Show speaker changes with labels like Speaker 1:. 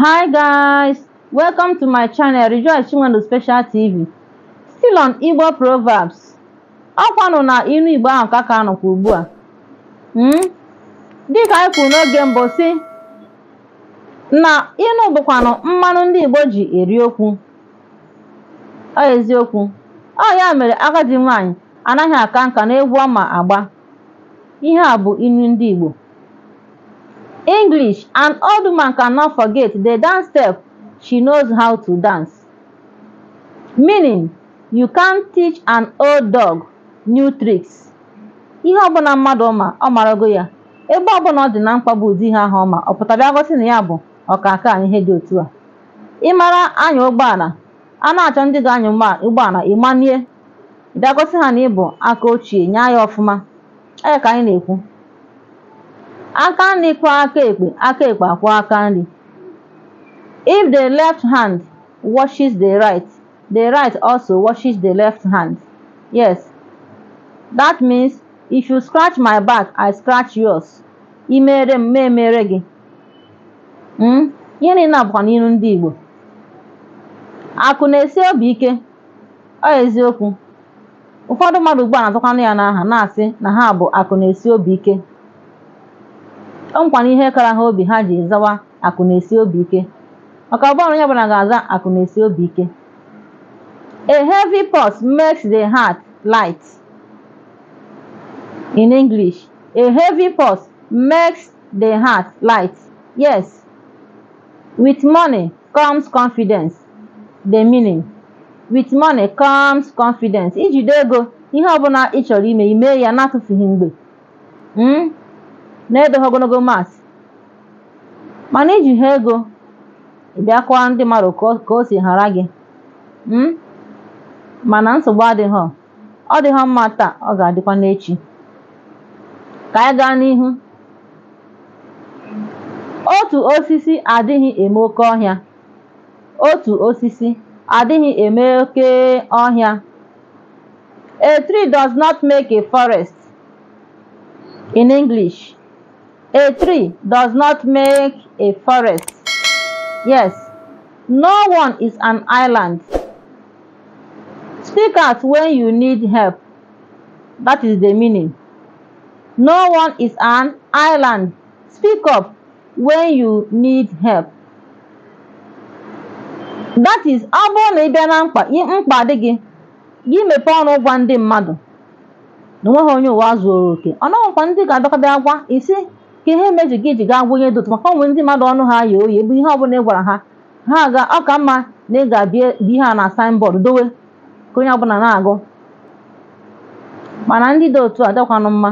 Speaker 1: Hi guys, welcome to my channel Rejoice Chinwendu Special TV. Still on Igbo Proverbs. Ọkwanụ na ilu Igbo ahụ ka a ka nọkwa ugbu a. Hmm? Dịka anyị kwuru n'oge mbụ sị na ilu bụkwanụ mmanụ ndị Igbo ji eri okwu. Ọ eziokwu. Ọ ya mere agadi nwaanyị anaghị aka nka n'egwu ọ ma agba. Ihe a bụ ilu ndị Igbo. English, an old woman cannot forget the dance step she knows how to dance. Meaning, you can't teach an old dog new tricks. Ihe ọbụla mmadụ ma ọ marago ya mgbe ọbụla ọ dị na mkpa bụ ụdị ihe ahụ ọ ma ọ pụta bịa gosi na ya bụ ọkaka na ihe dị otu a ị mara anya ụgbọala a na-achọ ndị ga-anya ụgbọala ị manie bịa gosi ha na ị bụ aka ochie nyaa ya ọfụma ọ ya ka anyị na-ekwu aka nri kwọ aka ekpe aka ekpe akwọ aka nri if the left hand washes the right the right also washes the left hand yes that means if you scratch my back i scratch yours i mere m ma emere gị Mm? ihe niile a bụkwanụ ilu ndị igbo akụ na-esi obi ike ọ eziokwu ụfọdụ mmadụ ugbu a na-azakwanụ ya n'aha na-asị na ha bụ akụ na-esi obi ike o nwekwanụ ihe kara ha obi ha ji zawa akụ na-esi obi ike maka ọ bụghị onye ọbụla ga-aza akụ na-esi obi ike a heavy purse makes the heart light in english a heavy purse makes the heart light yes with money comes confidence the meaning with money comes confidence i jide ego ihe ọbụla ị chọrọ ime i mee ya na-atụfughị mgbe mm? na-edoghị ogologo mas mana i jighị ego ị bịa kọwa ndị mmadụ ka o- ka o si hara gị mm? mana nsogbu adịghị ọ dịghị mma taa ọ ga-adịkwa n'echi ka anyị gaa n'ihu otu osisi adịghị eme oke ọhịa otu osisi adịghị eme oke ọhịa a tree does not make a forest in English a tree does not make a forest yes no one is an island speak out when you need help that is the meaning no one is an island Speak up when you need help. That is, ọ bụrụ na ị bịa na mkpa i- mkpa dị gị gị mepee ọnụ gwa ndị mmadụ na onweghị onye ụwa zuoro oke ọ nwekwa ndị ga-abịakwa bịa gwa gị sị ka ihe mere gị ji gaa gwa onye dị otu a maka o nwere ndị mmadụ ọnụ ha ye oye ebe ihe ọbụla ị gwara ha ha ga ọ ka mma na ị ga-abịa bie ihe a na signboard dowe ka onye ọbụla na-agụ mana ndị dị otu a adịkwanụ mma